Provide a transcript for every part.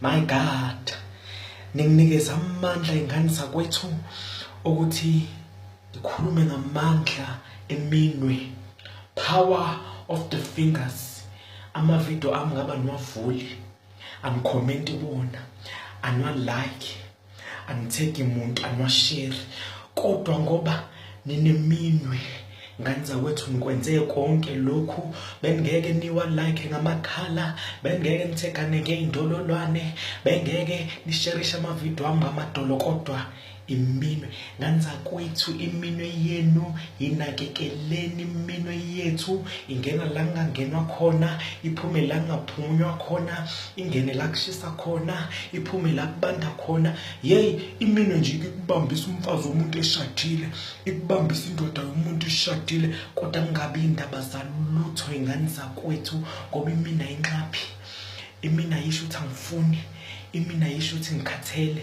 My God ninginikeza amandla ingane zakwethu ukuthi ngikhulume ngamandla eminwe power of the fingers ama video ami ngaba niwavuli ani comment kuwona anwa like angitheki muntu anwasheri kodwa ngoba nineminwe ngane zakwethu nikwenze konke lokhu bengeke niwa like ngamakhala bengeke nithekane ngeindololwane bengeke nisherishe amavideo wami ngamadolo kodwa iminwe nganzakwethu iminwe yenu yinakekeleni iminwe yethu ingena la kungangenwa khona iphume la kungaphunywa khona ingene la kushisa khona iphume la kubanda khona yeyi iminwe nje ikubambisa umfazi womuntu eshadile ikubambisa indoda yomuntu eshadile kodwa kungabi indaba zalutho ingane zakwethu ngoba imina inxaphi imina yisho ukuthi angifuni imina yisho ukuthi ngikhathele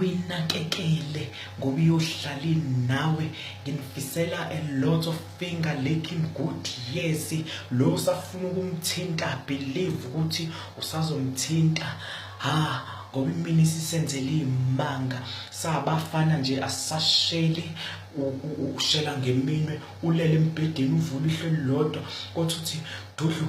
uyinakekele ngoba iyohlali nawe nginifisela a lot of finger licking good yes lo usafuna ukumthinta believe ukuthi usazomthinta ha ngoba imini isisenzele imanga sabafana nje asasheli ushela ngeminwe ulele embhedeni uvula ihlelo lodwa kothi uthi dudlu